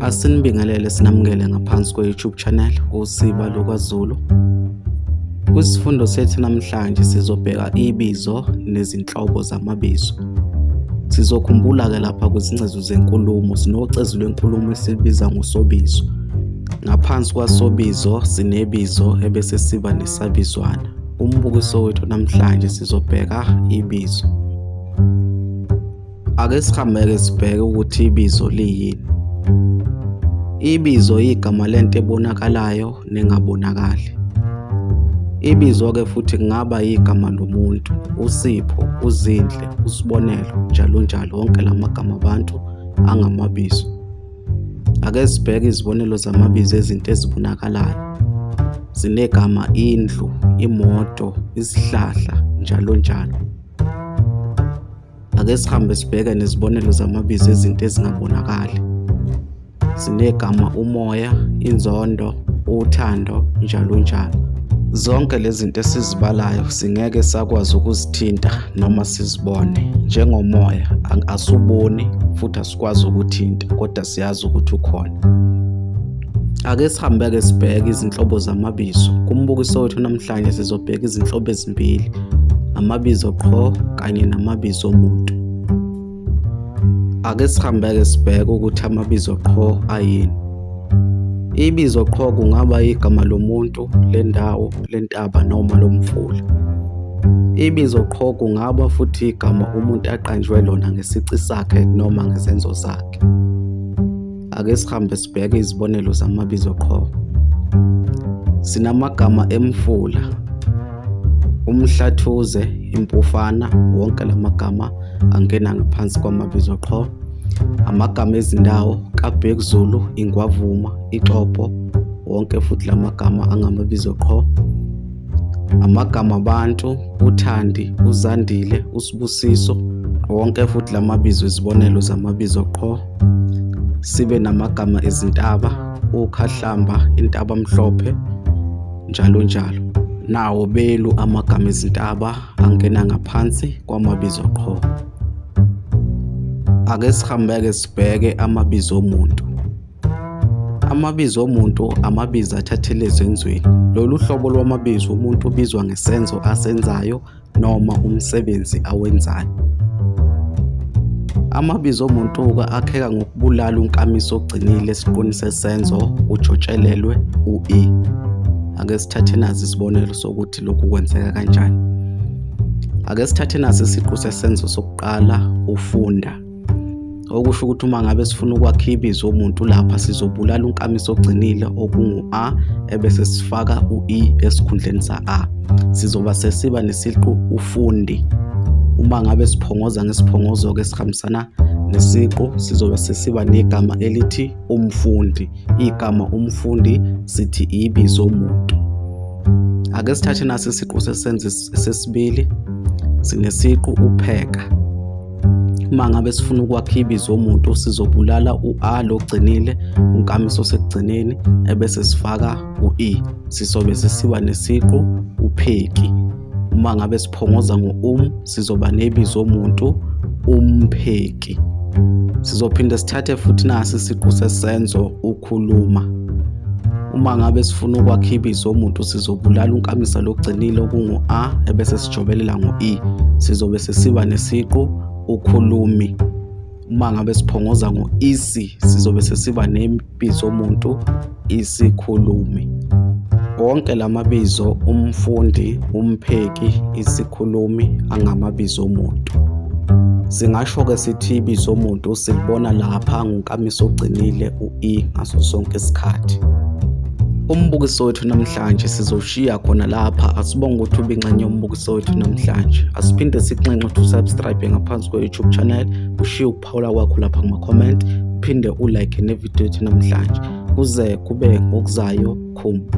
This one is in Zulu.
Asinibingelele sinamukele ngaphansi kwe-YouTube channel usiba lokwaZulu. Kwisifundo sethu namhlanje sizobheka ibizo nezinhlobo zamabizo. Sizokhumbula-ke lapha kwizingcezu zenkulumo sinocezu lwenkulumo esibiza ngosobizo. Ngaphansi kwasobizo sinebizo ebese siba nesabizwana. Umbukiso wethu namhlanje sizobheka ibizo. Ake sihameke sibheke ukuthi ibizo liyini. Ibizo igama lento ebonakalayo nengabonakali. Ibizo-ke futhi kungaba igama lomuntu, uSipho, uZinhle, uSibonelo, njalo njalo, wonke la magama abantu angamabizo. Ake sibheke izibonelo zamabizo ezinto ezibonakalayo. Zinegama indlu, imoto, isihlahla, njalo njalo. Ake sihambe sibheke nezibonelo zamabizo ezinto ezingabonakali. Sinegama umoya, inzondo, uthando, njalo njalo. Zonke lezi zinto esizibalayo singeke sakwazi ukuzithinta noma sizibone njengomoya asuboni futhi sikwazi ukuthinta kodwa siyazi ukuthi ukhona ake sihambe-ke sibheke izinhlobo zamabizo kumbukiso wethu namhlanje sizobheka izinhlobo ezimbili amabizo qho kanye namabizo omuntu ake sihambe-ke sibheke ukuthi amabizo qho ayini Ibizo qho kungaba igama lomuntu, lendawo, lentaba noma lomfula. Ibizo qho kungaba futhi igama umuntu aqanjwe lona ngesici sakhe noma ngezenzo zakhe. Ake sihambe sibheke izibonelo zamabizo qho. Sinamagama emfula, umhlathuze, impufana, wonke la magama angena ngaphansi kwamabizo qho. Amagama ezindawo kaBhek Zulu, Ingwavuma, Ixopo, wonke futhi la magama angamabizo qho. Amagama abantu, uThandi, uZandile, uSibusiso, wonke futhi la mabizo izibonelo zamabizo qho. Sibe namagama ezintaba, uKhahlamba, Intabamhlophe, njalo njalo. Nawo belu amagama ezintaba angena ngaphansi kwamabizo qho ake sihambeke sibheke amabizo omuntu amabizo omuntu amabizo athathele ezenzweni lolu hlobo lwamabizo umuntu ubizwa ngesenzo asenzayo noma umsebenzi awenzayo amabizo omuntu-ke akheka ngokubulala unkamiso ogcinile esiqwini sesenzo ujotshelelwe u-e ake sithathe nazi isibonelo sokuthi ukuthi lokhu kwenzeka kanjani. Ake sithathe naso isiqu sesenzo sokuqala ufunda. Okusho ukuthi uma ngabe sifuna ukwakha ibizo omuntu lapha sizobulala unkamisa ogcinile okungu-a ebese sifaka u-e esikhundleni sa-a. Sizoba sesiba nesiqu ufundi. Uma ngabe siphongoza ngesiphongozo-ke esihambisana nesiqu sizobe sesiba negama elithi umfundi igama umfundi sithi ibizo muntu ake sithathe nasi isiqu sesenzi sesibili sinesiqu upheka uma ngabe sifuna ukwakha ibizo omuntu sizobulala u-a logcinile unkamiso osekugcineni ebese sifaka u-e sizobe sisiba nesiqu upheki uma ngabe siphongoza ngo-um sizoba nebizo omuntu umpheki sizophinde sithathe futhi nasi isiqu sesenzo ukhuluma uma ngabe sifuna ukwakha ibizo omuntu sizobulala unkamisa logcinile okungu-a ebese sijobelela ngo-e sizobe sesiba nesiqu ukhulumi uma ngabe siphongoza ngo-isi sizobe sesiba Biza umuntu isikhulumi. Wonke la mabizo umfundi, umpheki, isikhulumi angamabizo omuntu. Singasho-ke sithi ibizo omuntu silibona lapha ngonkamisa ogcinile u-i ngaso sonke isikhathi. Umbukiso wethu namhlanje sizowushiya khona lapha asibonge ukuthi ubinxenye umbukiso wethu namhlanje asiphinde sikunxenxe ukuthi usubscribe ngaphansi kwe-youtube channel ushiye ukuphawula kwakho lapha kuma-comment uphinde ulike nevidiyo yethu namhlanje kuze kube ngokuzayo khumba